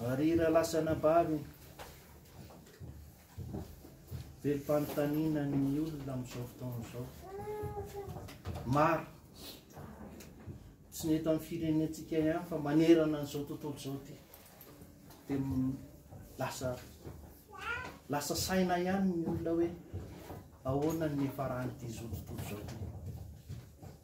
Ary raha lasa nabary be fanontaniana ny olona amin'izao fotoana izao. Maro. Tsy ny eto amin'ny firenentsika ihany fa manerana an'izao tontolo izao ity. Dia lasa lasa saina ihany ny olona hoe ahoana ny niafaran'ity izao tontolo izao ity.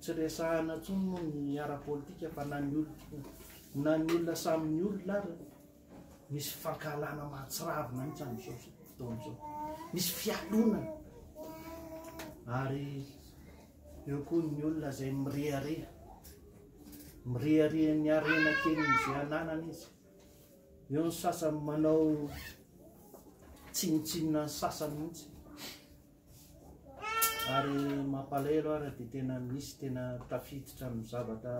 Tsy resahana intsony moa ny ara-politika fa na ny olona na ny olona samy ny olona ary misy fankahalana mahatsiravina mihitsy amin'izao fotoana izao. Misy fialonana ary eo koa ny olona izay mirehareha. Mirehareha ny harena kelin'izay ananany izy. Eo ny sasany manao tsinontsinona ny sasany mihitsy. Ary mampalahelo ara dia tena misy tena tafiditra amin'ny zavatra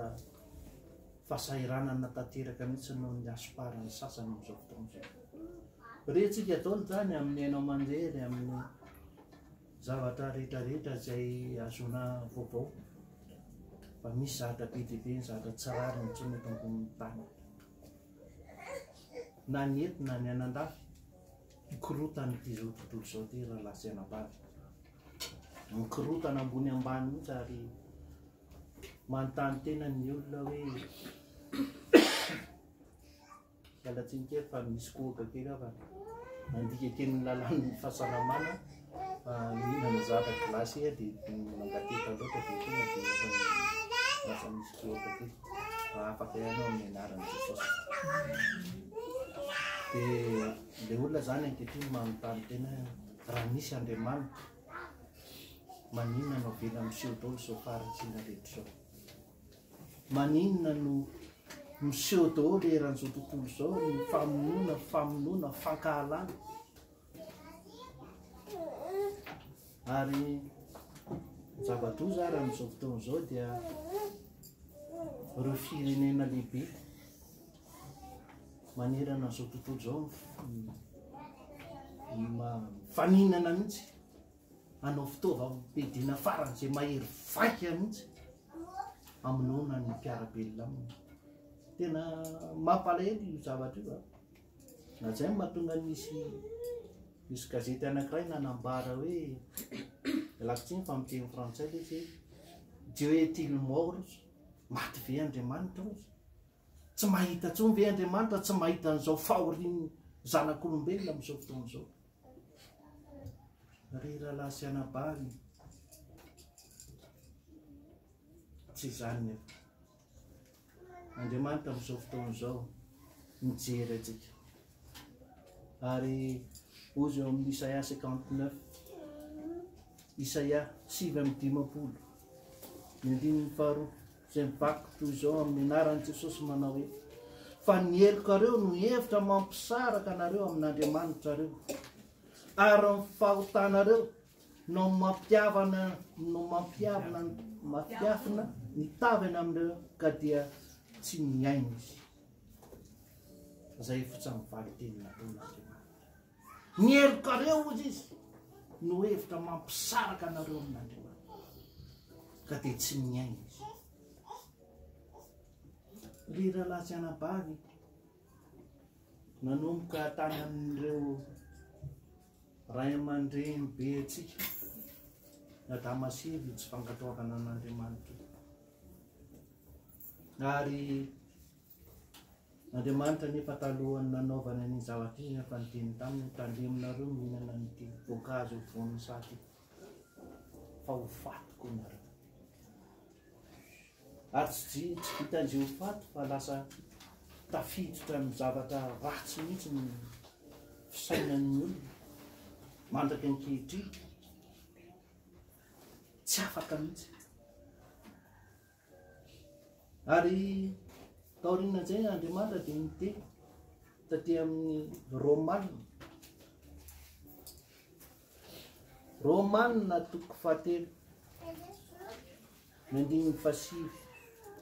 fahasahiranana tanteraka mihitsy noho ny hasomparan'ny sasany amin'izao fotoana izao. Rentsika daholo izany amin'ny haino aman-jery, amin'ny zavatra rehetrarehetra izay azona vaovao fa misy zavatra be dia be ny zavatra tsy rariny intsony eto ambonin'ny tany. Na ny eto na ny anandafy. Mikorontana ity izao tontolo izao ity rahalahy sy anabavy. Mikorontana ambony ambany mihitsy ary manontany tena ny olona hoe miala tsiny kely fa misy kohaka kely aho fa nandika teny ny lalàn'ny fahasalamana Mihinana zavatra glasy iha dia mangatiheta loatra dia tonga dia ohatran'ny lasa misy goaka kely. Hahafaka ihany ao amin'ny anaran'i Jesosy. Dia ilay olona izany ankehitriny manontany tena raha misy Andriamanitra maninona no avela miseho daholo izao faharatsiana rehetra izao? Maninona no miseho daholo eran'izao tontolo izao ny famonoana, famonoana, fankahalana? Ary ny zava-doza ary amin'izao fotoana izao dia ireo firenena lehibe manerana an'izao tontolo izao mifaninana mihitsy hanao fitaovam-piadiana faran'izay mahery vaika mihitsy hamonoana ny mpiara-belona aminy. Tena mampalahelo io zavatra io a! Na izay no mahatonga nisy nisy gazety anankiray nanambara hoe ialako tsiny fa amin'ny teny frantsay ilay izy hoe Dieu est-il mort ozy? Maty ve Andriamanitra ozy? Tsy mahita intsony ve Andriamanitra tsy mahita an'izao fahorian'ny zanak'olombelona amin'izao fotoana izao? Ry rahalahy sy anabavy, tsy izany nefa. Andriamanitra amin'izao fotoana izao mijery antsika. Ary hoy izy eo amin'ny Isaia 59, Isaia sivy amin'ny dimampolo, ny andininy faharoa, izay mivaky toy izao amin'ny anaran'i Jesosy manao hoe, fa ny helokareo no hevitra mampisaraka anareo amin'Andriamanitrareo, ary ny fahotanareo no mampiavana no mampiavina mampiafina ny tavany amin'ireo ka dia tsy mihaino izy zay fotsa mivaly teny nataon'Andriamanitra ny helokareo ozy izy no hevitra mampisaraka anareo amin'Andriamanitra ka dia tsy mihaino izy ry rahalahy sy anabavy nanomboka tany amin'ireo ray aman-dreny be antsika na damasivy tsy fankatoavana an'Andriamanitra ary Andriamanitra nefa talohan'ny nanaovana ny zavatra izy efa nidiny taminy tandreminareo mihinana nyity voankazo voan'ny saty fa ho fatiko nareo Ary tsy tsy vitan'izay ho faty fa lasa tafiditra amin'ny zavatra ratsy mihitsy ny fisainan'ny olona mandraka ankehitriny. Tsy afaka mihitsy. Ary taorian'izay Andriamanitra dia niteny taty amin'ny Romanina. Romanina toko fahatelo. Ny andininy fahasivy,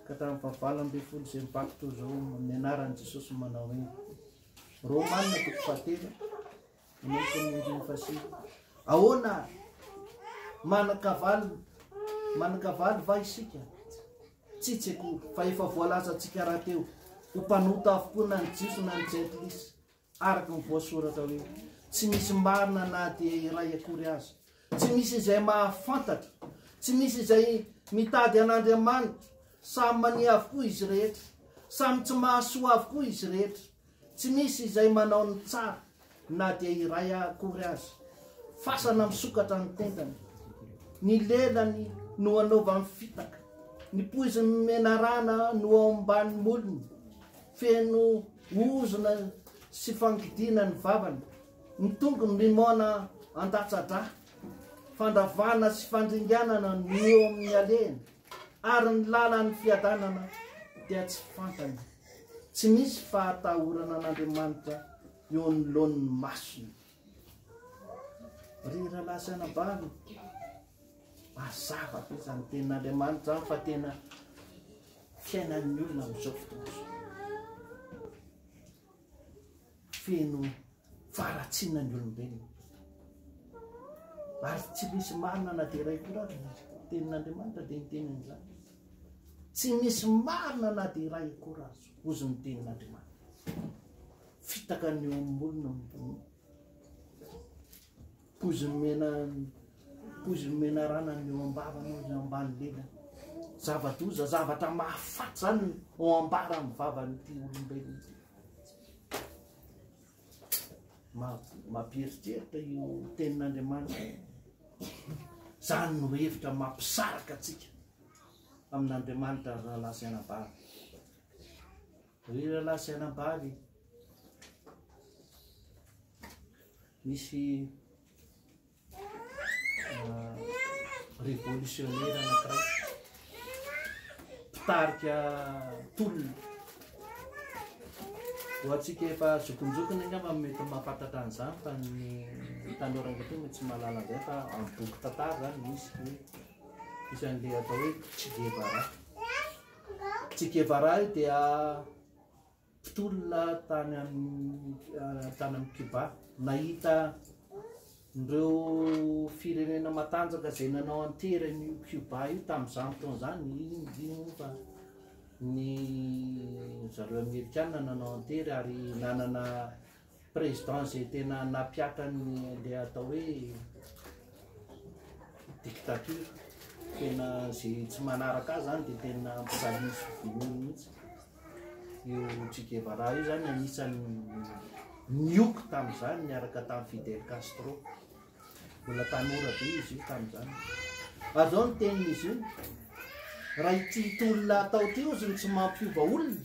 Ka hatramin'ny fahavalo ambin'ny folo izay mibabo toy izao amin'ny anaran'i Jesosy no manao hoe, Romanina toko fahatelo, manomboka amin'ny andininy fahasivy. Ahoana ary? Manan-kavalo, manan-kavalo va isika? Tsy tsekoa, fa efa voalaza antsika rahateo, ho mpanota avokoa na ny Jiosy na ny Jentilisa. Araka ny voasoratra hoe, Tsy misy marina na dia iray akory aza. Tsy misy izay mahafantatra. Tsy misy izay mitady an'Andriamanitra. Samy mania avokoa izy rehetra. Samy tsy mahasoa avokoa izy rehetra. Tsy misy izay manao ny tsara na dia iray akory aza. Fasana misokatra ny tendany. Ny lelany no anaovany fitaka. Ny poiziny menarana no ao ambanin'ny molony. Feno Ozona sy fangidina ny vavany, ny tongony mimoana andatsa-dra, fandravana sy fandringanana no eo amin'ny alehany, ary ny lalan'ny fiadanana dia tsy fantany. Tsy misy fahatahorana an'Andriamanitra eo anoloan'ny masony. Ry rahalahy sy anabavy, mazava be izany tenin'Andriamanitra izany fa tena fiainan'ny olona amin'izao fotoana izao. Feno faharatsiana ny olombelona. Ary tsy misy marina na dia iray koa ary ny tenin'Andriamanitra dia ny teny an'izany. Tsy misy marina na dia iray akory azo, hozy ny tenin'Andriamanitra. Fitaka ny eo amin'ny olona ambony. Poizina omena poizina omena rana ny eo am-bava ny eo ambany lela. Zava-doza, zavatra mahafaty zany ao ambara amin'ny vavan'ity olombelona ity. Mampieritreritra io tenin'Andriamanitra. Zany no hevitra mampisaraka antsika amin'Andriamanitra raha lazaina bary. Ry rahalahy sy anabavy, nisy revolisionera anankiray mpitarika tolona ho antsika efa zokinjokiny angamba mety mahafantatra an'izany fa ny tanora ankehitriny mety tsy mahalala an'izay fa amin'ny boky tantara izany misy hoe isan'ilay atao hoe Che Guevara Che Guevara io dia mpitolona tany amin'i Cuba. Nahita ireo firenena matanjaka izay nanao an-tery an'io Cuba io tamin'izany taona izany, indrindra moa fa ny zareo Amerikana nanao an-tery ary nanana Président izay tena nampihatra ny le atao hoe dictature tena ze tsy manaraka azy zany de tena mpijaliny sy vonoiny mihitsy io Che Guevara io zany anisany nioko tamizany niaraka tamy Fidel Castro mbola tanora be izy io tamizany ary zao ny teniny izy io raha ity tolona atao ty ozy ny tsy mampiova olona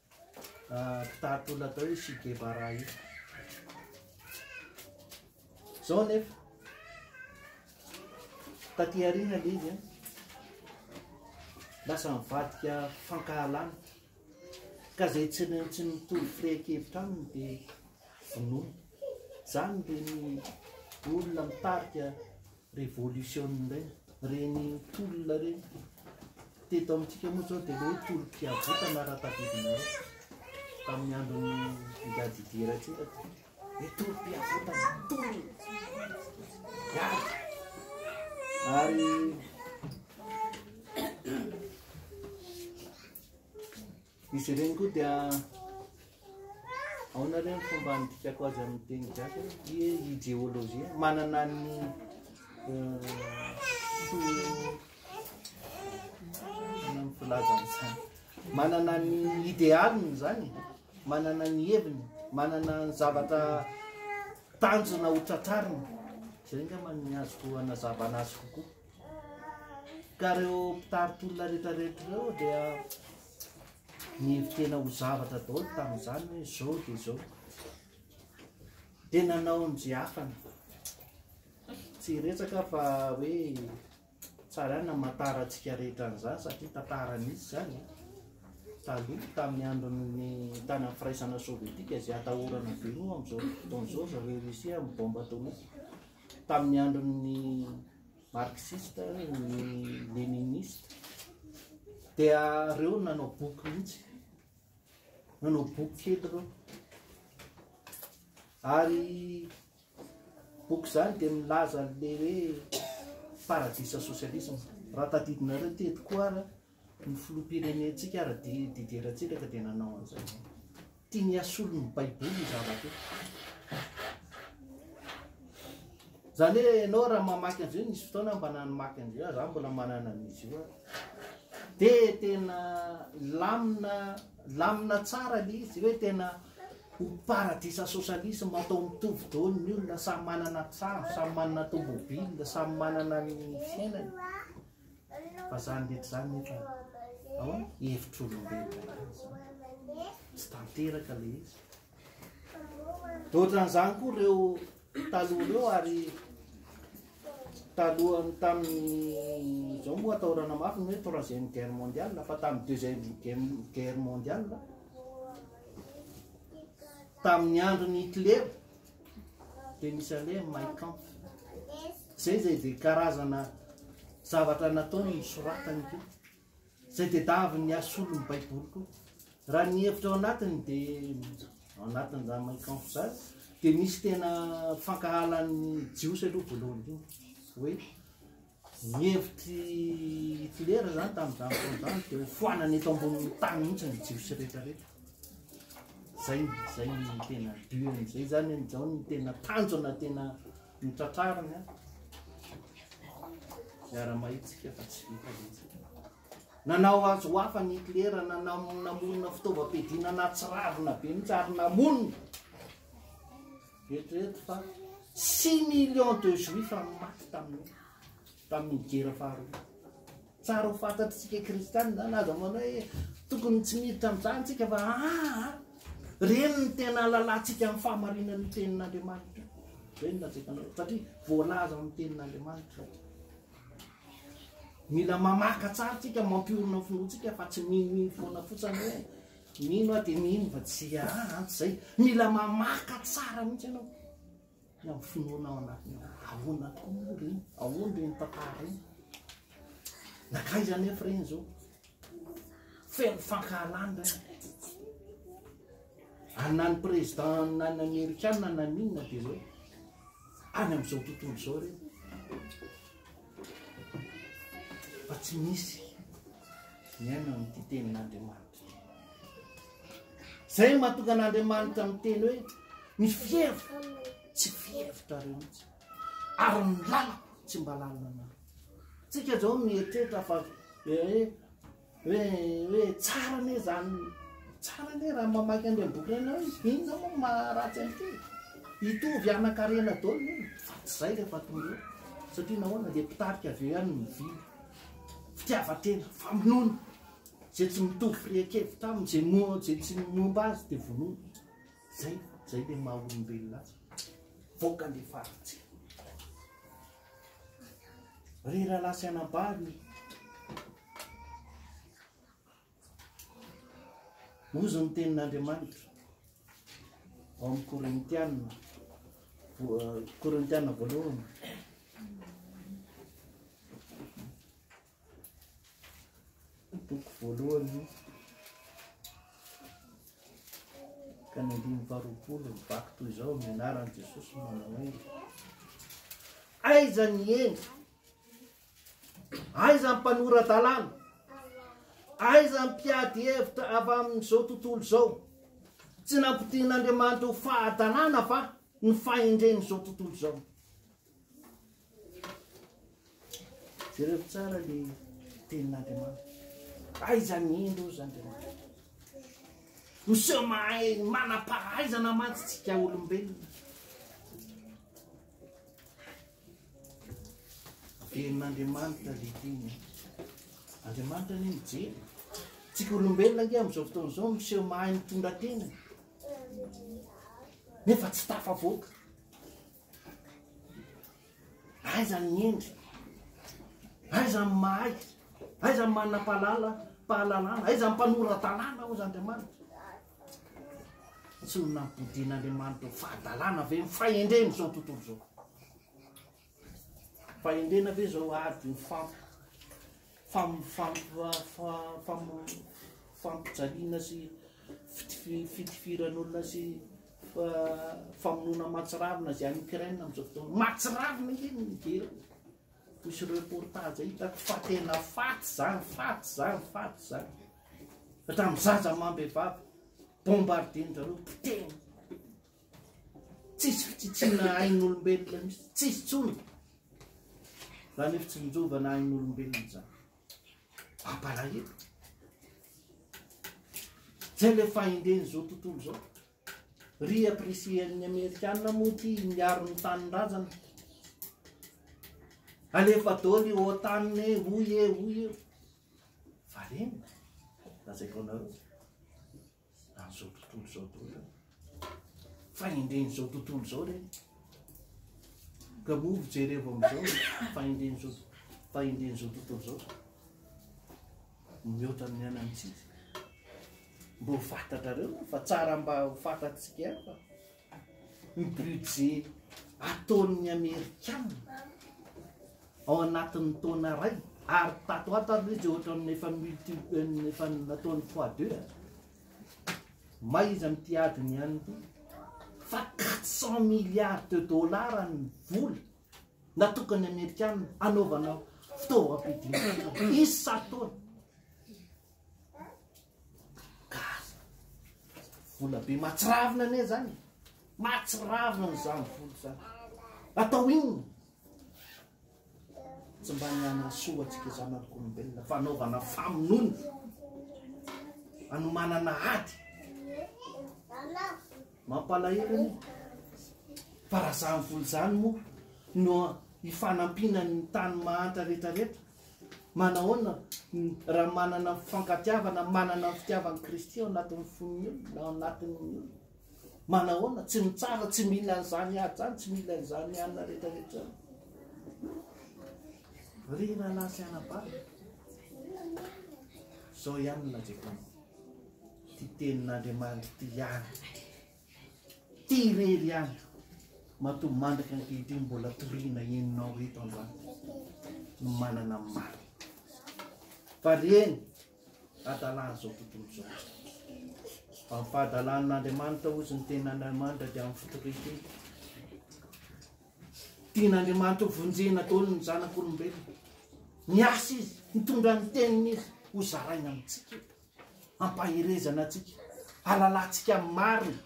mpitari-tolona atao hoe Che Guevara io. Izao anefa, taty aoriana ilay izy, lasa mivadika fankahalana, ka izay tsy tsy mitovy fehin-kevitra aminy dia vonoina. Izany dia ny olona mitarika Revolution indray reny tolona reny. Teto amintsika moa zao dia hoe tolom-piavotana raha tadidinareo tamin'ny andron'i Ngadidia Ratsiraka. Hoe tolom-piavotana, tolona, miady. Ary Izy ireny koa dia aona re ny fomba handikako azy amin'ny teny gasy hoe ie ideolojia manana ny filazany zany manana ny idealiny zany manana ny heviny manana ny zavatra tanjona ho tratrarina zay angamba ny azoko hanazavana azy kokoa Ka ireo mpitari-tolona rehetrarehetra ireo dia nihevi-tena ho zavatra daholo tamin'izany hoe izao dia izao. Dia nanao an'izay afany. Tsy hiretsaka fa hoe tsara ihany namatara antsika rehetra an'izany satria tantara nisy izany eh. taloha tamin'ny andron'ny tany amin'ny firaisana sovietika izay atahorana be moa amin'izao fotoana izao zareo Russie amin'ny bombe atomique. Tamin'ny andron'ny marxiste, ny leniniste, dia ireo nanao boky mihitsy, nanao boky kely ireo. Ary boky izany dia milaza an'ilay hoe paradisa socialisme. Raha tadidinareo teto koa ary Ny filoham-pirenentsika ary Didier Ratsiraka dia nanao an'izany. Tiany hasolo ny baiboly io zavatra io. Izany hoe ianao raha mamaky an'izay nisy fotoana mba namaky an'izay aho, izaho mbola manana an'izy io dia tena lamina lamina tsara ilay izy hoe tena ho paradisa socialisme atao mitovy daholo ny olona samy manana trano, samy manana tomobile, samy manana ny fiainany. Fa zany rehetra izany nefa ahoana? Hevitr'olombelona ihany izany. Tsy tanteraka ilay izy. Dia ohatran'izany koa ireo taloha ireo ary talohan'ny tamin'ny izao moa atahorana mafy ny hoe troisième guerre mondiale fa tamin'ny deuxième guerre mondiale tamin'ny andron'i Hitler dia misy aleha ny Mein Kampf. Izay izay dia karazana zavatra nataony ny soratany koa. Izay dia davin'ny asolo ny Baiboly koa. Raha ny hevitra ao anatiny dia ao anatiny izany Mein Kampf izany dia misy tena fankahalan'ny Jiosy aloha voalohany koa. Hoe Ny hevitr'i Hitlera izany tamin'izany fotoana izany dia hofoanana eto ambonin'ny tany mihitsy ny Jiosy rehetrarehetra. Izay izay ny tena but izay izany hoe izao ny tena tanjona tena notratrariny miara-mahitsika fa tsy vita mihitsy. Nanao azy ho hafa ny Hitlera, nanam- namorona fitaovam-piadiana nahatsiravina be mihitsy ary namonina Eritrereto fa six millions de juifs maty tamin'ny tamin'ny gera faharoa. Tsara ho fantatritsika kristianina zany aza manao hoe tokony tsy miditra amin'izany tsika fa aa ah, ah, reny ny tena alalantsika amin'ny fahamarinan'ny tenin'Andriamanitra. Reny na tsika anao satria voalaza amin'ny tenin'Andriamanitra. Mila mamaka tsara tsika mampiorina ny finoantsika fa tsy minoino foana fotsiny hoe Mino aho dia mino fa tsy haharanty izay. Mila mamaka tsara mihitsy ianao. Ny amin'ny finoana ao anatiny ao. Ahoana tokoa moa ireny? Ahoana ireny tantara ireny? Nakaiza anefa ireny izao? Feno fankahalana Anna ny président na ny amerikana na ny inona dia hoe any amin'izao tontolo izao ireny. Fa tsy misy ny aina amin'ity tenin'Andriamanitra. Izay no mahatonga an'Andriamanitra miteny hoe ny fihevitra tsy fihevitra rehotsy ary ny lalako tsy mba lalina na tsika zao mieritreritra fa hoe hoe hoe tsara ne zany tsara ne raha mamaky an'ireny boky ireny hoe inona moa maharatsy an'ity hitovy anankarena dolo fa tsy izay rehefa tonga eo satria nahoana dia mpitarika avy eo ihany ny vina fitiavan-tena famonoana Izay tsy mitovy firehan-kevitra aminy, izay moa izay tsy momba azy dia vonoina. Zay, zay le maha olombelona azy. Voka le faritse. Ry rahalahy sy anabavy, ozy ny tenin'Andriamanitra ao amin'ny Korintiana, Korintiana voalohany. Toko voalohany ka ny andininy faharoapolo mivaky toy izao amin'ny anaran'i Jesosy no manao hoe aiza ny hendry aiza ny mpanora-dalàna aiza ny mpiady hevitra avy amin'izao tontolo izao tsy nampidian'Andriamanitra ho fahadalàna va ny fahendren'izao tontolo izao Jereo tsara le tenin'Andriamanitra. Aiza ny indro ozy Andriamanitra? Miseho mahay manam-pahaizana mantsy tsika olombelona. Tenin'Andriamanitra le teny. Andriamanitra ny mijery. Tsika olombelona nge amin'izao fotoana izao miseho mahay mitondra tena. Nefa tsy tafavoaka. Aiza ny hendry? Aiza ny mahay? Aiza ny manam-pahalalana? Aiza ny mpanora-dalàna hozy Andriamanitra? Tsy ho nampodian'Andriamanitra ho fahadalàna ve ny fahendrena izao tontolo izao? Fahendrena ve izao ady ho fanta? fampijaliana sy fitifiran'olona sy famonoana mahatsiravina izay any Ukraine amin'izao fotoana. Mahatsiravina ange ny mijery azy. Misy reportage hitako fa tena faty izany, faty izany, faty izany. Hatramin'ny zaza amam-behivavy, bombardien-dry zareo, potehina. Tsisy fitsitsiana ain'olombelona mihitsy, tsisy intsony. Izany fitsinjovana ain'olombelona izany. Mampalahelo. Zay le fahendren'izao tontolo izao. Ry apprecier-n'ny Amerikana moa ity miaro ny tanindrazana. Alefa dôly i OTAN e, hoy e, hoy e. Valena, lazaiko anareo. An'izao tontolo izao toa izany. Fahendren'izao tontolo izao ireny. Ka moa fijerevo amin'izao fahendren'izao fahendren'izao tontolo izao. Mihoatra amin'ny anantsika. Mba ho fantatrareo fa tsara mba ho fantatsika ihany fa. ny budget ataon'ny amerikana ao anatin'ny taona ray ary tato ho ato ary le izy ohatran'ny efa multi efa nataony fois deux may izy amin'ity adiny ihany ity fa quatre cent milliards de dollars ny vola natokany amerikana anaovana fitaovam-pidiana isan-taona Gaga. Vola be mahatsiravina anie zany. Mahatsiravina ny zany vola zany. Atao inona? Tsy mba ny hanasoa antsika zanak'olombelona fanaovana famonoana. Anomanana ady. Mampalahelo anie. Fa raha zany vola zany moa no hifanampiana ny tany mahantra rehetra rehetra. Manahoana raha manana ny fifankatiavana, manana ny fitiavan'i Kristy ao anatin'ny fon'ny olona, ao anatin'ny olona? Manahoana? Tsy mitsara, tsy mila an'izany ahy izany, tsy mila an'izany anina rehetra rehetra. Ry rahalahy sy anabavy, izao ihany na Jehovah. Ity tenin'Andriamanitra ity ihany. Ty irery ihany matoa mandraka ankehitriny mbola toriana henonao eto androany no manana ny marina. Fa reny adala zao tontolo zao. Fa ny fahadalan' Andriamanitra ozy ny tenin' Andriamanitra dia amin'ny fotoriteny. Tian' Andriamanitra ho vonjena daholo ny zanak' olombelona. Miasa izy, mitondra ny teniny izy ho zaraina amintsika eto. Ampaherezana antsika, halalantsika amin'ny marina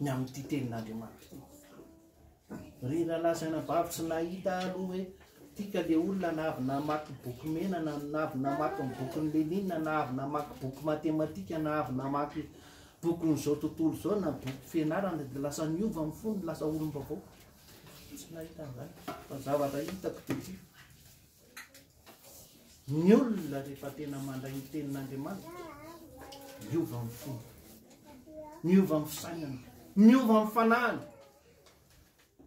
ny amin'ity tenin'Andriamanitra ity. Ry rahalahy sy anabavy tsy nahita aloha hoe tika le olona na avy namaky boky mena na na avy namaky ny bokin'i Lénine na avy namaky boky matematika na avy namaky bokin'izao tontolo izao na boky fianarana dia lasa niova amin'ny fony lasa olom-baovao. Tsy nahita an'izany. Fa zavatra hitako dia ity. Ny olona rehefa tena mandray ny tenin'Andriamanitra, miova ny fony, miova ny fisainany, miova ny fanahany,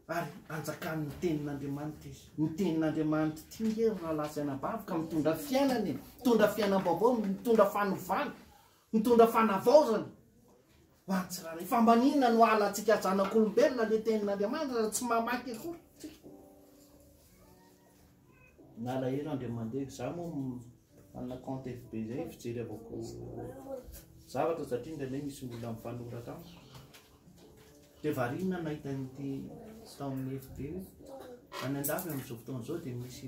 ary anjakan'ny tenin'Andriamanitra izy. Ny tenin'Andriamanitra ity nge ry rahalahy sy anabavy ka mitondra fiainana e, mitondra fiainam-baovao, mitondra fanovana. Mitondra fanavaozana ho an'ny tsirairay. Fa mba n'inona no halantsika zanak'olombelona le tenin'Andriamanitra raha tsy mamaky akory tsika. Nalahelo Andriamandeha, za moa manana compte FB zay fijery avako zavatra satria indraindray misy olona mifanoratra amiko. De variana nahita an'ity tao amin'ny FB io. Any an-dafy amin'izao fotoana izao dia misy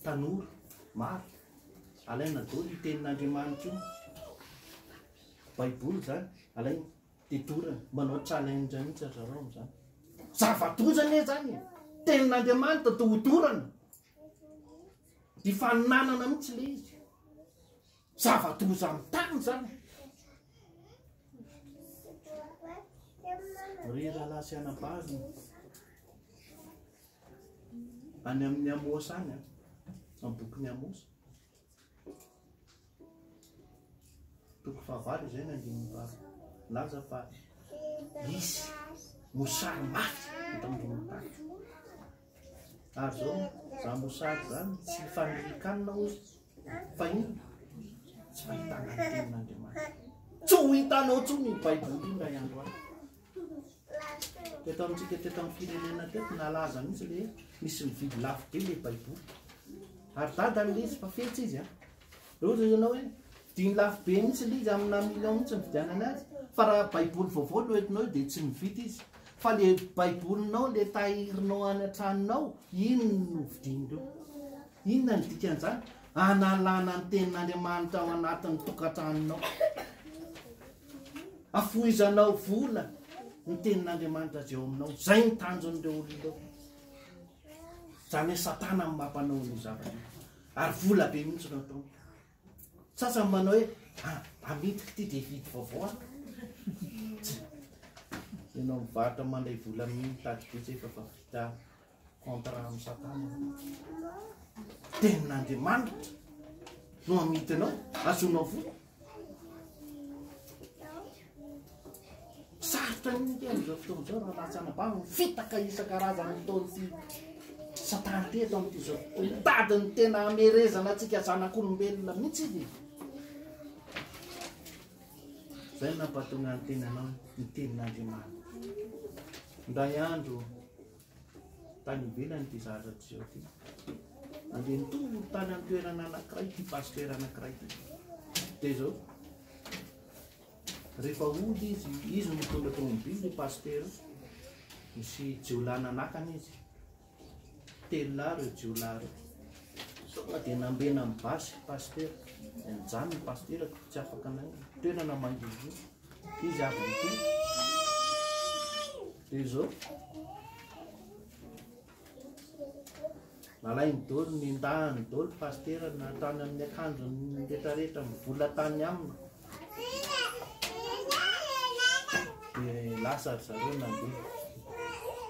tanora maro Alaina daholo io tenin'Andriamanitra io, baiboly zany, alaina de dorana, manao challenge mihitsy aza reo amzany. Zava-doza anie zany e! Tenin'Andriamanitra de ho dorana. Dia faninanana mihitsy le izy. Zava-doza amin'ny tany zany. Ry rahalahy sy anabavy. Any amin'ny Amosa any, amin'ny bokin'i Amosa. Toko fahavalo izay nandininy vavy. Laza fa hisy mosary mafy eto amin'ny tany. Ary zao, za mosary zany tsy fanirikanina hoy fa iny tsy fahitana ny tenin'Andriamanitra. Tsy ho hitanao intsony ny Baiboly indray andro any. Teto amintsika teto amin'ny firenena teto nalaza mihitsy le misy mividy lafo be le baiboly. Ary dadany le izy fa fetsy izy an. Reo zay ianao hoe diny lafo be mihitsy le izy amina million mihitsy mividianana azy. Fa raha baiboly vaovao no entinao eo dia tsy mividy izy. Fa le baibolinao le tahirinao any an-tranonao iny no vidin'ireo. Inona ny dikan'izany? Analana ny tenin'Andriamanitra ao anatin'ny tokantranonao. Afohizanao vola ny tenin'Andriamanitra izay ao aminao. Izay ny tanjon'ireo olona ireo. Izany hoe Satana amin'ny mampanao ny zavatra io. Ary vola be mihitsy no ataony. Sasany manao hoe ah, amidiko ity dia hividy vaovao aho. Ianao mivarotra mandray vola amin'ny mitady betsy efa fa vita. contrat am satana tenin'Andriamanitra no amidinao azonao vola sarotra ny ny teny zao fotoana zao raha latsana bano fitaka isan-karazany fotoany ty satana teto amity zao fotoana tady ny tena amerezana atsika zanak'olombelona mihitsy izy zay nampatonga ny tenanao ny tenin'Andriamanitra ndray andro Tany ivelany ity zavatra miseho ity. Andeha nitory tany amin'ny toerana anankiray ity pasitera anankiray ity. Dia izao, rehefa hody izy, izy no mitondra tomobily ny pasitera, misy jiolahy nanakana izy. Telo lahy ireo jiolahy ireo. Sao dia nambena amin'ny basy pasitera. Dia nijanona ny pasitera, tsy afaka naingana. Toerana mangidihidy. Izy avy ny koa. Dia izao. Nalainy dolo, nendahany dolo, pasitera natany amin'ny akanjony retraretra mivola tany aminy. Dia lasa ry zareo nandeha.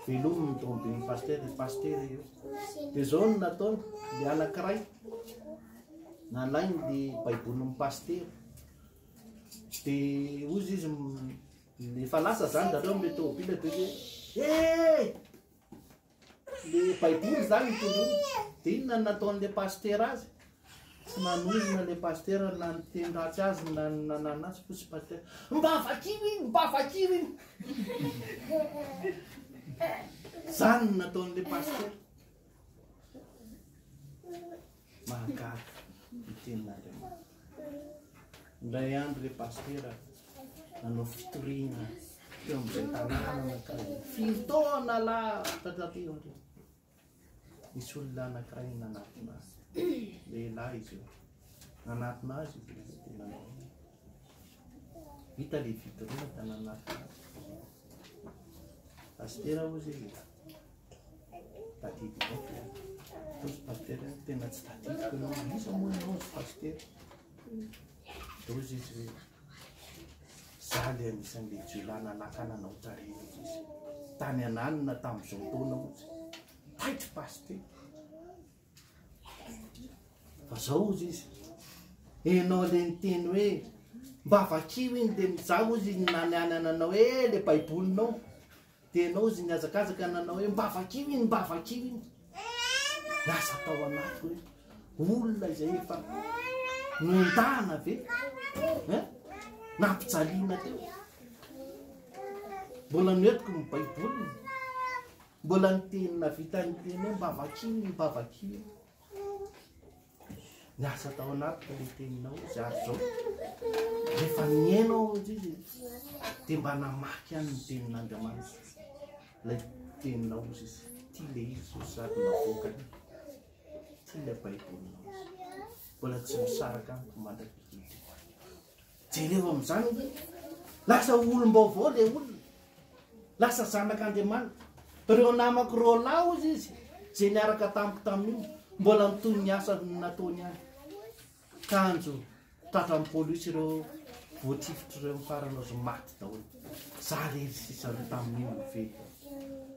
Velomy ny tomobily pasitera, pasitera io. Dia izao no nataony, ny anankiray. Nalainy ny baibolin'ny pasitera. Dia hozy izy efa lasa zany zareo amin'ilay tômôbila dia hoe eh! Ilay baiboly zany tolona. Dia inona no nataon'ilay pasitera azy? Tsy nanozona ilay pasitera na niteny ratsy azy na nanana azy fo sy pasitera. Mba vakio iny, mba vakio iny. Zany no nataon'ilay pasitera. Mahagaga ny tenin'Andriamanitra. Indray andro ilay pasitera nanao fitoriana teo amin'izay tanàna anankiray, firy taona lasa taty aoriana. Nisy olona anankiray nanatona azy, lehilahy izy io, nanatona azy io dia nanao hoe. Hita le vitrine tanana Pasitera oa zay e Tadidiko ao Fa ozy pasitera tena tsy tadidiko anao Iza moa enao ozy pasitera De ozy izy hoe Za le anisan'ny le jiolahy nanakana anao tarehy ozy izy Tany an'alina tam'zao taona ozy Taitra pasitera Fa zao hozy izy, enao le niteny hoe mba vakio iny de mizaha hozy iny naniany nanao hoe le baibolinao de enao hozy nihazakazaka nanao hoe mba vakio iny mba vakio iny lasa tao anatiko hoe olona izay efa nondana ve eh? nampijaliana teo mbola noetiko ny baiboliny Mbola niteny nahavita niteny hoe mba vakio ny mba vakio. Niasa tao anatiko ilay teninao izy ary izao rehefa mihaino ao amin'izay izy dia mba namaky any ny tenin'Andriamanitra ilay teninao izy izy tia ilay izy izy sady navoaka tia ilay baibolinao izy mbola tsy misaraka amiko mandrakizay Jereo amin'izany hoe lasa olom-baovao ilay olona, lasa zanak'Andriamanitra. Ireo namako roa lahy, hoy izy, izay niaraka tamiko tamin'iny, mbola mitohy ny asa nataony ihany. Kanjo tratran'ny polisy ireo voatifitra ireo ny farany azo maty daholo. Za rery sisa aloha tamin'iny no fety.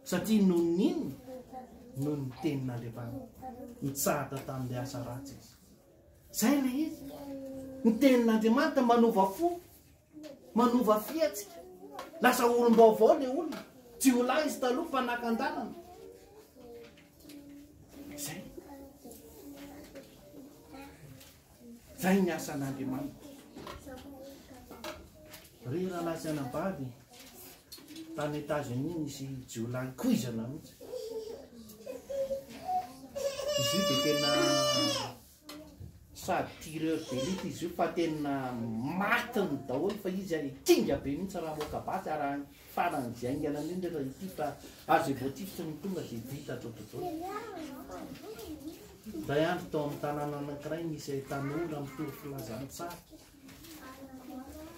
Satria noho ny inona? Noho ny tenin'Andriamanitra. Nitsahatra tamin'ilay asa ratsy izy. Izay ilay izy. Ny tenin'Andriamanitra manova fo, manova fihetsika. Lasa olom-baovao ilay olona. Jiolahy izy taloha, mpanakan-dalana. Izay. Izay ny asan'Andriamanitra. Ry rahalahy sy anabavy. Tany Etazonia nisy jiolahy koizana mihitsy. Izy io dia tena sady tireur d'élite izy io fa tena matiny daholo fa izy ary kinga be mihitsy raha moka basy ary any farany diaingana an'io ndray raha ity fa aza egotisme ny tonga dia vita ato tontolo. Iray andro tao amin'ny tanàna anankiray nisy tanora mitory filazantsara.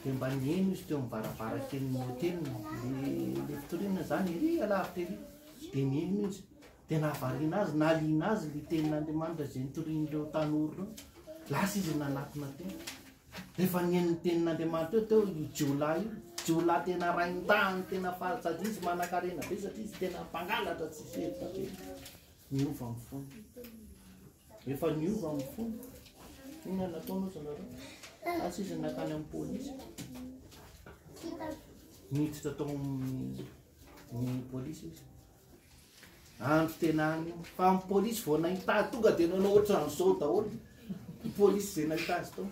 Dia mba niheno izy teo amin'ny varavarankelin'ny hoteliny, ilay mpitorinona izany ery alavitra ery. Dia niheno izy, dia nahavariana azy, nahaliana azy ilay tenin'Andriamanitra izay nitorian'ireo tanora ireo. Lasa izy nanatona teny. Rehefa niheno ny tenin'Andriamanitra eo teo io jiolahy io, jiolahy tena rain-tany, tena faly sady izy manankarena be satria izy tena mpangalatra tsy misy hevitra be, niova ny fony. Efa niova amin'ny fony. Inona no nataonao ry zareo? Asa izy no nankany amin'ny polisy. Niditra tao amin'ny polisy izy. Andro tena any io. Fa amin'ny polisy vao nahita azy tonga dia nanao ohatran'izao daholo. Ny polisy izay nahita azy tao.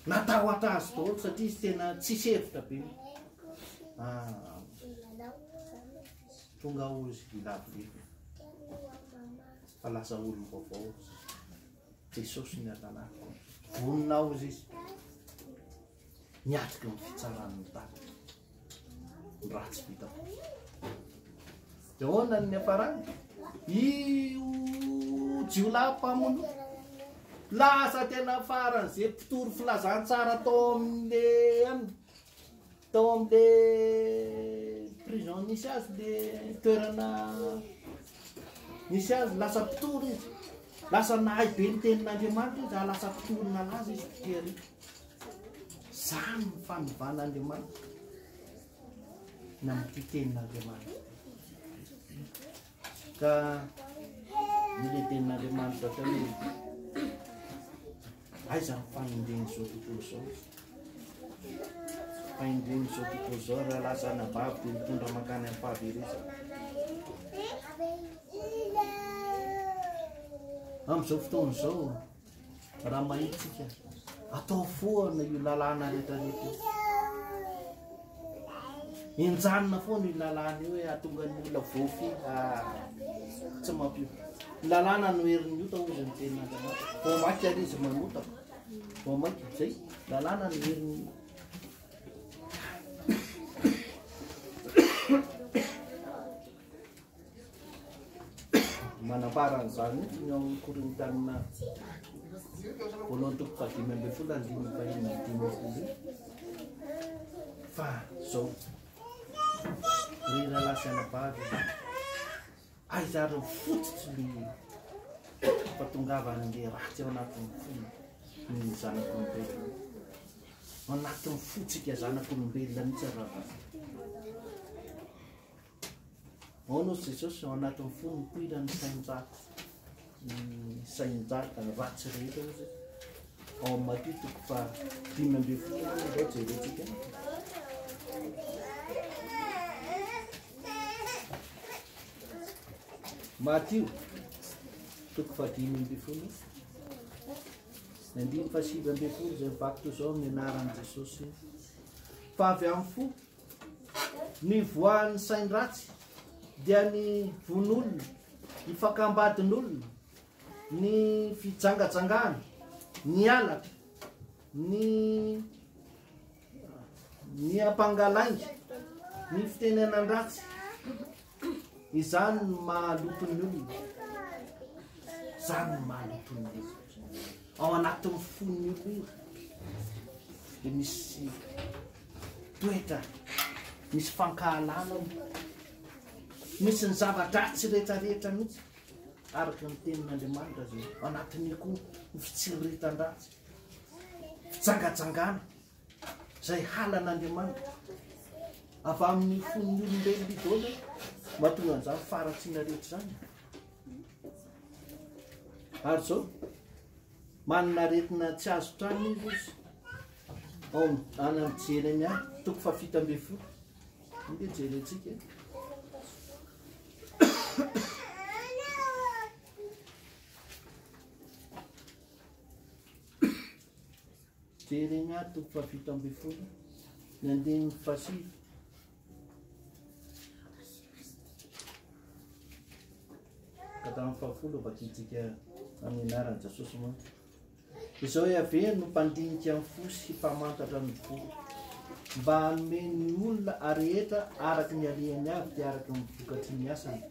Natahotra azy daholo satria izy tena tsisy hevitra be. Ah, tonga ao izy, ny lavidavitra. Fa lasa olom-baovao Jesosy ny andanako. Vonona aho hozy izy. Miatrika ny fitsaran'ny tany. Ny ratsy vitako. Dia ahoana ny aparany? Io jiolahy mpamono. Lasa tena faran'izay mpitory filazantsara tao amin'ny Tao amin'le prison nisy azy le toerana nisy azy lasa mpitory izy lasa nahay be ny tenin'andriamanitra izy lasa mpitory nalaza izy mpitery zany ny fanovan'andriamanitra na ny tenin'andriamanitra ka ny lehiben'andriamanitra tao izy Aiza ny fahendren'izao tontolo izao? Fahendren'izao tontolo izao raha lahy zanabavy dia mitondra mankany amin'ny fahaverezana. Amin'izao fotoana izao, raha mahitsika, atao foana io lalàna rehetra rehetra io. Enjanina foana io lalàna io hoe hahatonga ny olona voafy tsy mampio. Ny lalàna no herin'ny ota hoy ny tenin'Andriamanitra. Vao maika ary izy manota. Vao maika izay lalàna no herin'ny ota. Manambara an'izany ny ao amin'ny Korintiana voalohany toko fahadimy ambin'ny folo andininy fahenina amby dimampolo fa izao ry rahalahy sy anabavy aizareo fototra ny fahatongavan'ilay ratsy ao anatin'ny fony ny zanak'olombelona ao anatin'ny fotsika zanak'olombelona mihitsy raha Ao no Jesosy ao anatin'ny fo mipoitra ny sain-dratsy ny sain-dratsy ratsy rehetra ozy ao amin'ny Matio toko fa dimy ambin'ny folo izao jerentsika Matio toko fa dimy ambin'ny folo ny andiny fa sivy ambin'ny folo izay mivaky toy izao ny anaran'i Jesosy fa avy amin'ny fo Ny voan'ny sain-dratsy dia ny vono-olona, ny fakam-badin'olona, ny fijangajangana, ny halatra, ny ny ampangalainga, ny fitenenan-dratsy. Izany no mahaloto ny olona. Izany no mahaloto ny olona. Ao anatin'ny fon'ny olona dia misy toetra, misy fankahalana, misy ny zava-dratsy rehetrarehetra mihitsy araka ny tenin'Andriamanitra zay anatin'ny koa ny fitsiritan-dratsy. Jangajangana, Izay halan'Andriamanitra avy amin'ny fon'ny olombelona idôla mahatonga an'izany faharatsiana rehetra izany. Ary izao, manana aretina tsy azo trano izy izy. Ao any amin'ny Jeremia, toko fahafito ambin'ny folo. Inde jerentsika. Jeremia toko fahafito ambin'ny folo ny andininy fahasivy. Kadamin'ny fahafolo vakintsika amin'ny anaran'i Jesosy moa. Izao Yaveh no mpandinika ny fo sy mpamantatra ny fo mba hanome ny olona arehetra araka ny alehany avy dia araka ny vokatry ny asany.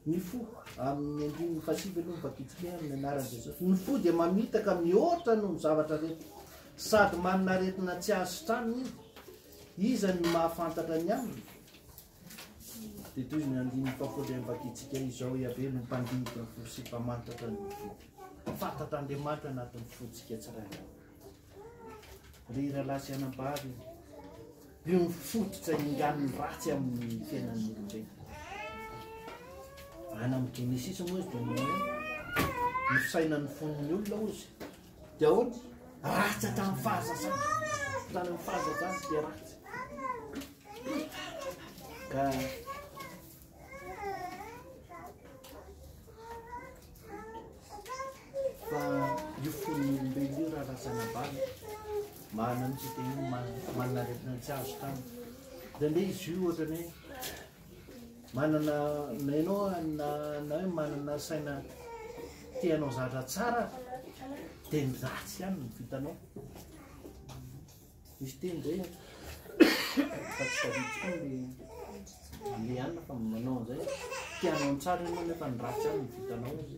Ny fo, amin' ny andininy fahasivy aloha ny vakitsipihana ny anaran' Jesosy, ny fo dia mamitaka mihoatra noho ny zavatra rehetra sady manana aretina tsy azo sitranina izy. Iza no mahafantatra ny aminy? Dia toy ny andininy fahafolo dia vakitsika izao, Yaveh no mpandinika ny fo sy mpamantratra ny fo. Fantatr' Andriamanitra anatin' ny fontsika tsirairay. Ry rahalahy sy anabavy, io ny fototra ingan'ny ratsy amin'ny fiainan'ny olombelona. Any amin'ny Genesisy moa izy dia manao hoe ny fisainan'ny fon'ny olona ozy dia ahoana? Ratsy hatramin'ny fahazazana. Tany amin'ny fahazazana dia ratsy. Ka Fa io fon'ny olombelona io raha razana ambany marina mihitsy teny hoe ma- manana aretina tsy azo tany zany de izy io ohatra ny hoe manana na ianao na na hoe manana saina te hanao zatra tsara de ny ratsy ihany no vitanao Misy teny izay an, fa tsy tadidiko koa ny le anona fa manao an'izay te hanao ny tsara ianao nefa ny ratsy ihany no vitanao izy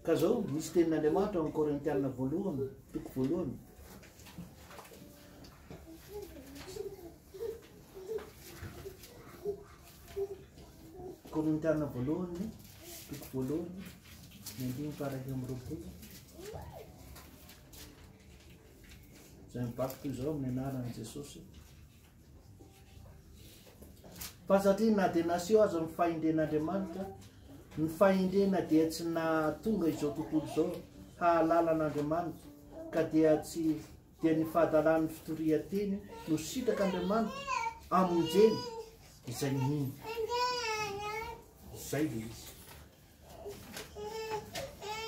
ka zao misy tenin'Andriamanitra ao amin'ny Korintianina voalohany toko voalohany Korintiana voalohany, toko voalohany, ny andininy faharay amby roapolo. Izay mibaby toy izao amin'ny anaran'i Jesosy. Fa satria na dia naseho aza ny fahendren'Andriamanitra, ny fahendrena dia tsy nahatonga izao tontolo izao hahalala an'Andriamanitra, ka dia tsy dia ny fahadalan'ny fitorian-teny no sitrak' Andriamanitra amonjeny izay mino. Izay dia izy.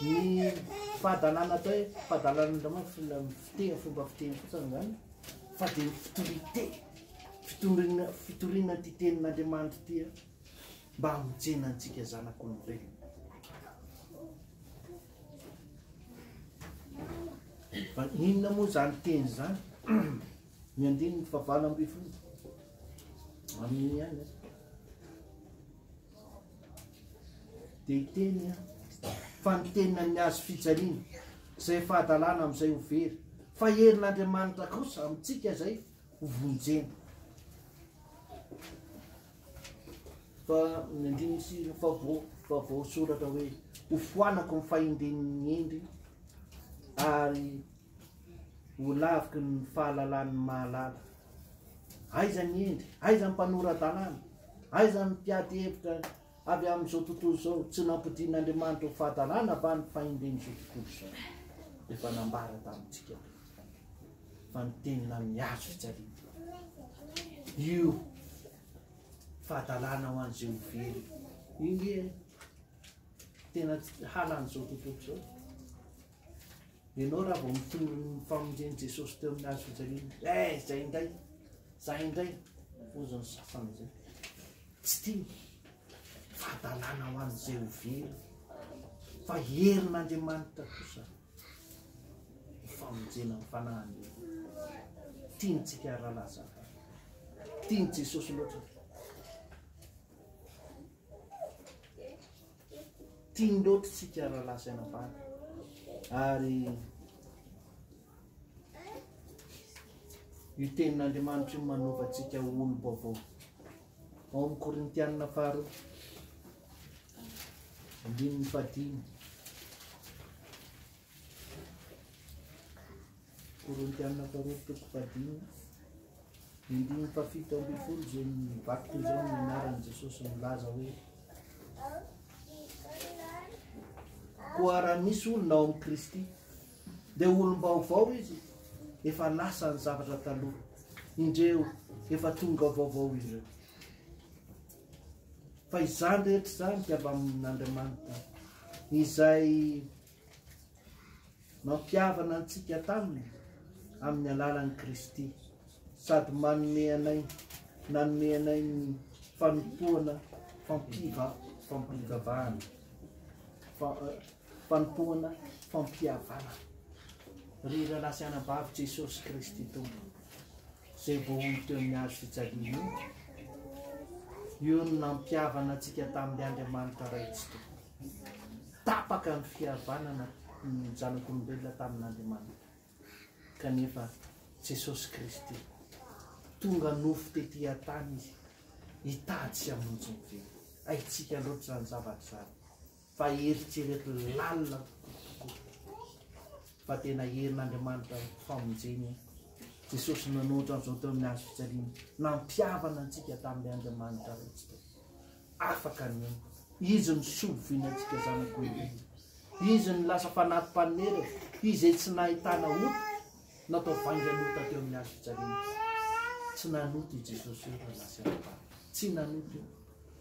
Ny fahadalana atao hoe fahadalan'Andriamanitra fiteny fomba fiteny fotsiny izany fa dia ny fitorian-teny fitoriana fitoriana ity tenin'Andriamanitra ity mba hamonjena antsika zanak'olombelona. Fa inona moa izany teny izany? Ny andininy fahavalo ambin'ny folo. Amin'iny ihany. Dia hiteny an. Fa ny tenina ny azo fijaliana. Izay fahadalana amin'izay ho very. Fa herin'Andriamanitra kosa amintsika izay ho vonjena. Fa ny andininy sy ny favao favao soratra hoe ho foanako ny fahendren'ny hendry ary ho laviky ny fahalalan'ny mahalala. Aiza ny hendry? Aiza ny mpanora-dalàna? Aiza ny mpiady hevitra avy amin'izao tontolo izao? Tsy nampodian'Andriamanitra ho fahadalàna va ny fahendren'izao tontolo izao? Efa nambara tamintsika. fa ny tenina amin'ny azo fijaliana. Io fahadalana ho an'izay ho very. Io nge tena halan'izao tontolo izao. Ianao raha vao mitondro ny famonjen'i Jesosy teo amin'ny azo fijaliana, eh, izay indray, izay indray, ozon'ny sasany izay. Tsy tiany. Fahadalana ho an'izay ho very. Fa herin'Andriamanitra kosa. Famonjena ny fanahin'ny olona. Tiantsika ary rahalahy zafy. Tian'i Jesosy loatra. Tiany loatra tsika rahalahy sy anabavy. Ary io tenin'Andriamanitra io manova antsika olom-baovao. Ao amin'ny Korintianina faharoa. Andininy fahadimy. Korintiana faharoa toko fahadimy. Ny andininy fahafito ambin'ny folo izay mibakoka izao ny anaran'i Jesosy milaza hoe koa raha misy olona ao amin'i Kristy dia olom-baovao izy efa lasa ny zavatra taloha indreo efa tonga vaovao ireo Fa izany rehetra izany dia avy amin'Andriamanitra, izay nampihavana antsika taminy amin'ny alalan'i Kristy, sady manome anay, nanome anay ny fanompoana fampiva, fampivavahana, fa, eh, fanompoana fampihavana. Ry rahalahy sy anabavy, Jesosy Kristy Tompo. Izay voahoy teo amin'ny hazo fijaliana io, io no nampihavana antsika tamin'ny Andriamanitra Ray tsy tokony. Tapaka ny fihavanana ny zanak'olombelona tamin'Andriamanitra. Kanefa Jesosy Kristy, tonga nofo tety an-tany izy, hitady sy hamonjy ny velona. Haintsika loatra izany zavatra izany. Fa eritrereto lalina kokoa fa tena herin'Andriamanitra ny famonjena e! Jesosy nanohitra an'izao teo amin'ny hazo fijaliana, nampihavana antsika tamin'ilay Andriamanitra raintsika. Afaka ny aina. Izy no soa voina antsika zanak'olombelona. Izy no lasa fanampy mpanomera izay tsy nahitana ota natao vaingan'ota teo amin'ny hazo fijaliana. Tsy nanota i Jesosy io raha lasa eo am-pary. Tsy nanota io.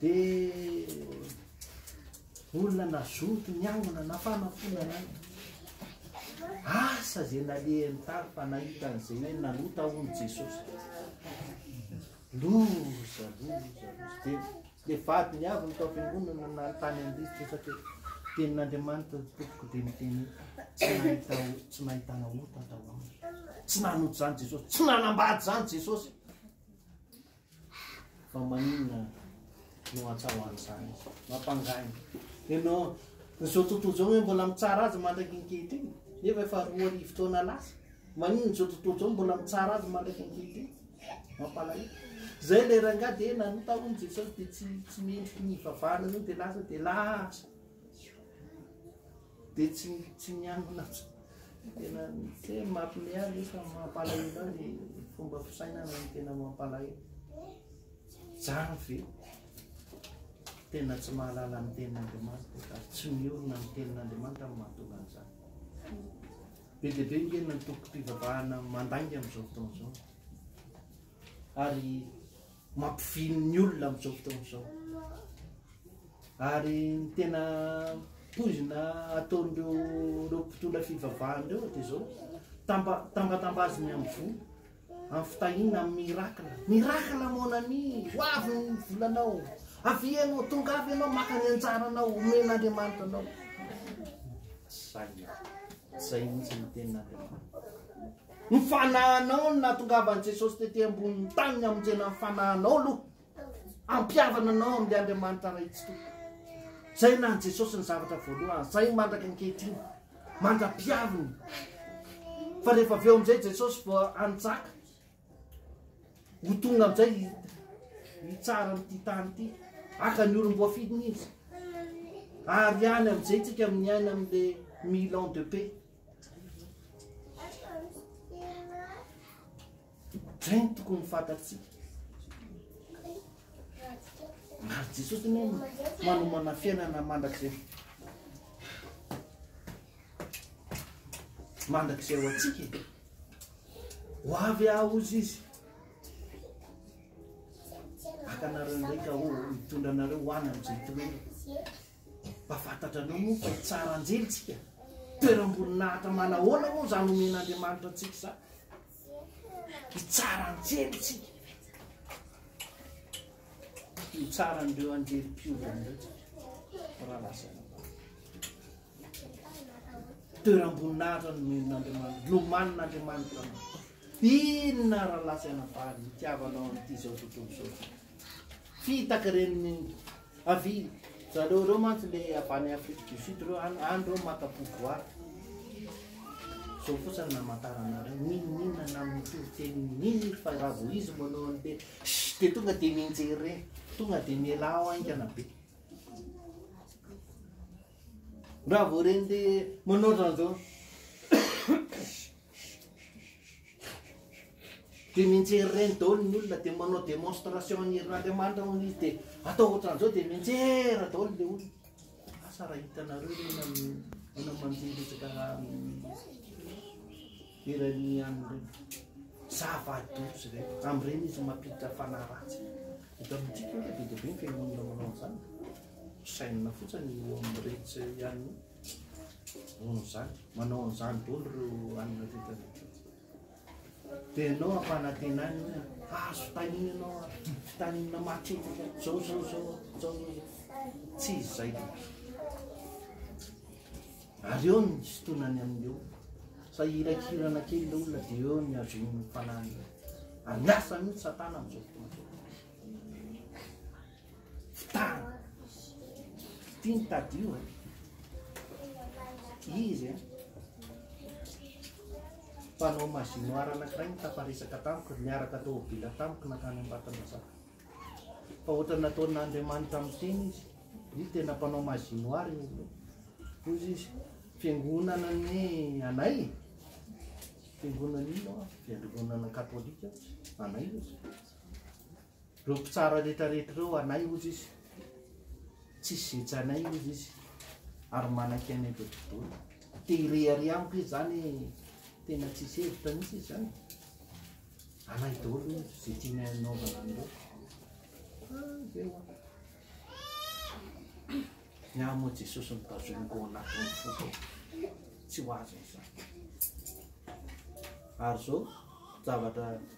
Dia olona nazoto niangona na fanampiana na inona. Asa izay nalehan'ny tavy fa nahita an'izay hoe nanota hono Jesosy. Loza, loza, loza. Dia le vadiny avy ny tao am-piangonana na ny tany an-drivotra efa teo. Tenin'Andriamanitra ny tompoko dia miteny hoe, tsy nahita o- tsy nahitana ota tao aminy. Tsy nanota izany Jesosy, tsy nanambady izany Jesosy. Fa maninona no atsahao an'izany? Mampangaina. Ianao, izao tontolo izao hoe mbola mitsara azy mandraka ankehitriny, nefa efa roa arivo taona lasa. Maninona izao tontolo izao mbola mitsara azy mandraka ankehitriny? Mampalahelo. Izay ilay rangahy dia nanota hono Jesosy dia tsy tsy mendriky ny hivavahana an'io dia lasa dia lasa. Dia tsy tsy miangona tsy tena tsy hoe mampime ahy nefa mampalahelo ahy ny fomba fisainana no tena mampalahelo. Zany ve tena tsy mahalala ny tenin'Andriamanitra ka tsy miorina ny tenin'Andriamanitra no mahatonga an'izany. Be dia be nge ny antokom-pivavahana mandainga amin'izao fotoana izao. ary mampivily ny olona amin'izao fotoana izao. Ary ny tena poizina ataon'ireo ireo mpitondra fivavahana ireo dia izao tamba tambatambaziny amin'ny voa amin'ny fitahiana amin'ny miracle miracle mon ami ho avy ny volanao avy ianao tonga avy ianao maka ny anjaranao omen'andriamanitra anao zay zay mihitsy ny tenin'andriamanitra Ny fanahinao no nahatongavan'i Jesosy tetỳ ambonin'ny tany ny hamonjena ny fanahinao aloha, hampihavana anao amin'ilay Andriamanitra Raintsika io. Izay na an'i Jesosy ny zavatra voalohany, izay mandraka ankehitriny, mandra-pihaviny. Fa rehefa avy eo amin'izay Jesosy vao hanjaka, ho tonga amin'izay hitsara an'ity tany ity, haka ny olom-boafidiny izy. Ary ihany amin'izay tsika amin'ny aina amin'ilay million de paix. Zay ny tokony fantatsika. Maro Jesosy ny manomana fiainana mandrakizay. Mandrakizay ho antsika. E. Ho avy ahozy izy. Akanareo ndraika ho mitondra anareo ho any amin'izay toerana. Mba fantatranao moa fa hitsara anjely tsika? Toeram-boninahitra manahoana moa izany omen'Andriamanitra antsika izany? Hitsara anjely tsika. Hitsara an'ireo anjely mpiovana ireo tsika. Raha lasa toeram-boninahitra nomen'Andriamanitra, nomanin'Andriamanitra anao. Inona raha lasa ianabavy ny tiavanao an'ity izao tontolo izao? Fitaka reny mingo avy zareo reo mantsy le avy any Afrique du Sud reo any any reo maka pouvoir. Zao fotsiny ny amantaranareo n'inon'inona na mitovy teny n'inon'inona fa raha vao izy manao an'le shh de tonga de mianjery re, tonga de mialà ao haingana be. Raha vao ren'le manao ohatran'zao shh. Dia mianjera ireny daholo ny olona dia manao démonstration ny herin'Andriamanitra hono izy dia atao ohatran'izao dia mianjera daholo ilay olona. Asa raha hitanareo ireny amin'ny olona mandeha resaka eran'ny ihany ireny. Zava-doza ireny. Amin'ireny izy mampiditra fanahy ratsy. Eto amintsika io dia be dia be ny fiangonana manao an'izany. Sainina fotsiny eo amin'ny retsy ihany. Noho izany, manao an'izany daholo ireo alina teto aloha. Dia ianao ampanantenany hoe azo tahiana ianao ary fitaniana matetika izao izao izao izao izao. Tsy izy izay dia. Ary eo ny sitonany amin'ny eo. Sa irakirana kely ilay olona dia eo ny azon'ny fanahiny. Ary miasa mihitsy satana amin'izao fotoana izao. Fitahana. Ity ny tadio e. Izy e. Mpanao magie noir anankiray nitafaresaka tamiko, niaraka tômôbila tamiko nankany Ambatonazaka. Fa ohatra nataon'Andriamanitra amin'ny teny izy. Izy tena mpanao magie noir izy. Hoy izy, fiangonana ny anay e. Fiangonana ino? Fiangonana katolika anay izy. Ireo mpitsara rehetra rehetra ireo anay hozy izy, tsisy zetsy anay hozy izy ary manaiky anay dodododo. Te hirehareha amiko izy zany tena tsisy hevitra mihitsy izy zany. Anay daholo hozy izay tiany anaovana an'ireo. Ah, zay hoa. Ny ahy moa Jesosy mitazoniko ao anatin'ny foko. Tsy ho azo izany. Ary zao zavatra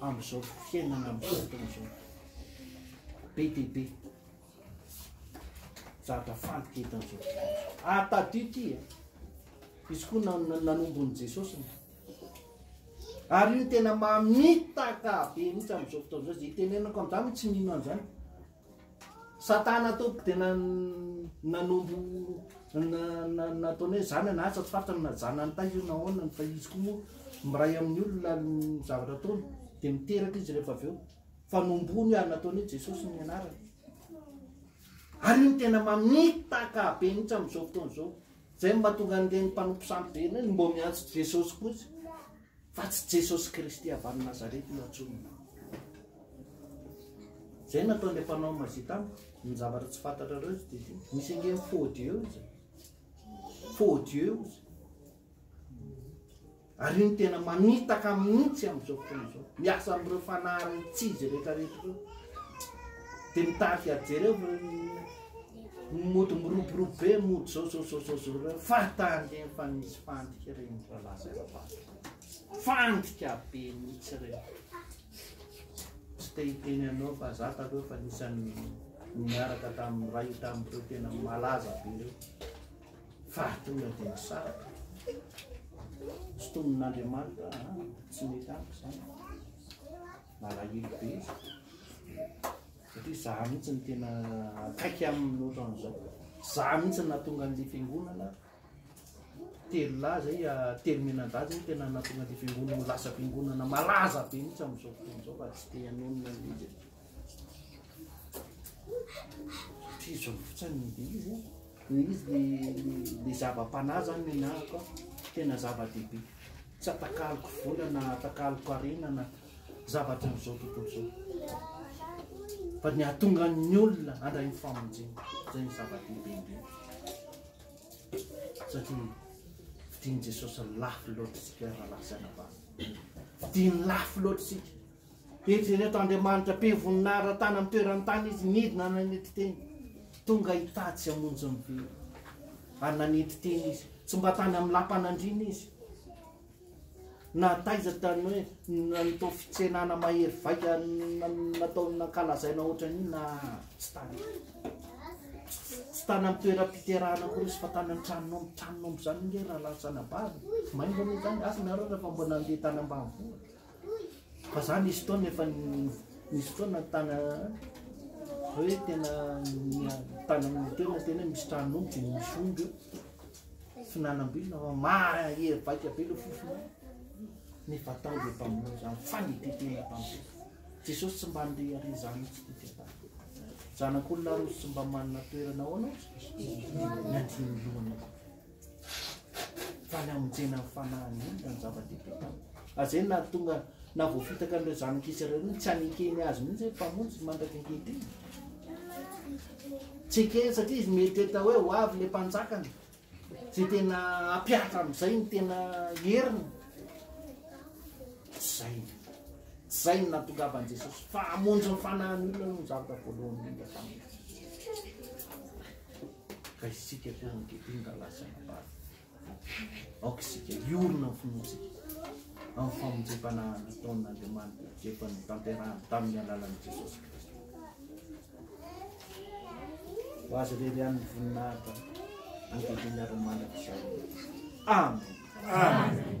amin'izao fiainana amin'izao fotoana izao. Be dia be. Zatra faly ty eto amin'izao fotoana izao. Ary tadio ity e. Izy koa nanombon'i Jesosy. Ary io tena mamitaka be mihitsy amin'izao fotoana izao. Izay itenenako amin'izany tsy mino an'izany. Satana tompoko dia na nanombo nataony hoe zany na atsy atsy faritra no najana ny tay io na ahoana ny fa izy koa moa miray amin'ny olona ny zavatra ataony dia miteraka izy rehefa avy eo fa nombony ary nataony hoe jesosy ny anarany ary io tena mamitaka be mihitsy amin'izao fotoana izao zay mahatonga an'ireny mpanompo sampy be ireny mbo miantso jesosy kosa Fa tsy Jesosy Kristy avy any Nazareta io antsoina. Zay nataon'le mpanao magie tamiko, ny zavatra tsy fantatrareo izy dia ity. Misy ange faux dieu izy. Faux dieu izy. Ary io ny tena manitaka mihitsy amin'izao fotoana izao. Miasa amin'ireo fanahy tsy izy rehetra rehetra ireo. Dia mitarika jereo Mody miroborobo be mody zao zao zao zao zao reo fahatany reny fa misy fandika reny rahalahy sy anabavy. Fandika be mihitsy reny. Tsy te hiteny anao fa za taloha fa nisan'ny niaraka tamin'ny ray tamin'ireo tena malaza be reo. Fahatonga dia nisaraka. Tsy tombon'Andriamanitra tsy mety amiko zany. Malahelo be. Satria za mihitsy no tena akaiky aminy ohatran'izao. Za mihitsy no nahatonga an'ilay fiangonana telo lahy zay ah, telo mianadahy zay tena nahatonga an'ilay fiangonana ho lasa fiangonana malaza be mihitsy amin'izao fotoana izao fa tsy te hanonona an'ilay izy. Satria izao fotsiny no dia izy eh. Ny izy le- le zava-panahy zany no enahako ah. tena zava-dehibe. Tsy atakaloko vola na atakaloko harena na. zavatra amin'izao tontolo izao. Fa ny hahatonga ny olona handray ny famonjena, izay ny zava-dehibe indrindra. Satria fidian'i Jesosy lafo loatra isika rahalahy sy anabavy. Fidiany lafo loatra isika. Eritrereto Andriamanitra be voninahitra tany amin'ny toeran'ny tany izy nidina nanetry teny. Tonga hitady sy hamonjy ny velona. Ary nanetry teny izy. Tsy mba tany amin'ny lapan'andriana izy. Na taiza tany hoe nitao fitsenana mahery vaika natao nankalazaina ohatran'io na tsy tany. Tsy tany amin'ny toeram-piterahana akory izy fa tany an-tranon'omby. Tranon'omby izany ange raha lasanà bavy. Maingoana izany, asa nareo raha efa mbola nandeha tany ambanivohitra. Fa za nisy fotoana efa nisy fotoana tana hoe tena tana amin'ny toerana tena hoe misy tranon'omby dia misy omby eo fihinanam-bilona fa mahery vaika be ilay fofona nefa tao dia mpamono izany fa ny ity tena mpamono Jesosy tsy mba handeha ary izany mihitsy ity tena zanak'olona roa tsy mba manana toerana ahoana ohatry ny andiany lohana koa Fa ny hamonjena ny fanahiny iny no zava-dehibe taminy. Ary izay no nahatonga, na voafitaka an'ireo zanak'i Israely ireo, tsy hanekeny azy mihitsy hoe Mpamonjy no mandraka ankehitriny. Tsy ekeny satria izy mieritreritra hoe ho avy ilay mpanjakany, izay tena hampiatra amin'izay ny tena heriny. Zay. Zay no nahatongavan'i Jesosy. Fa hamonjy ny fanahiny olona no zavatra voalohany indrindra taminy. Ka isika fianakaviany ka lasa nabary. Aoka isika hiorina ny finoantsika amin'ny famonjempanahiny nataon'Andriamanitra efa notanterahany tamin'ny alalan'i Jesosy Kristy. Ho azy irery ihany ny voninahitra ankehitriny ary mandrakizay. Amen. Amen.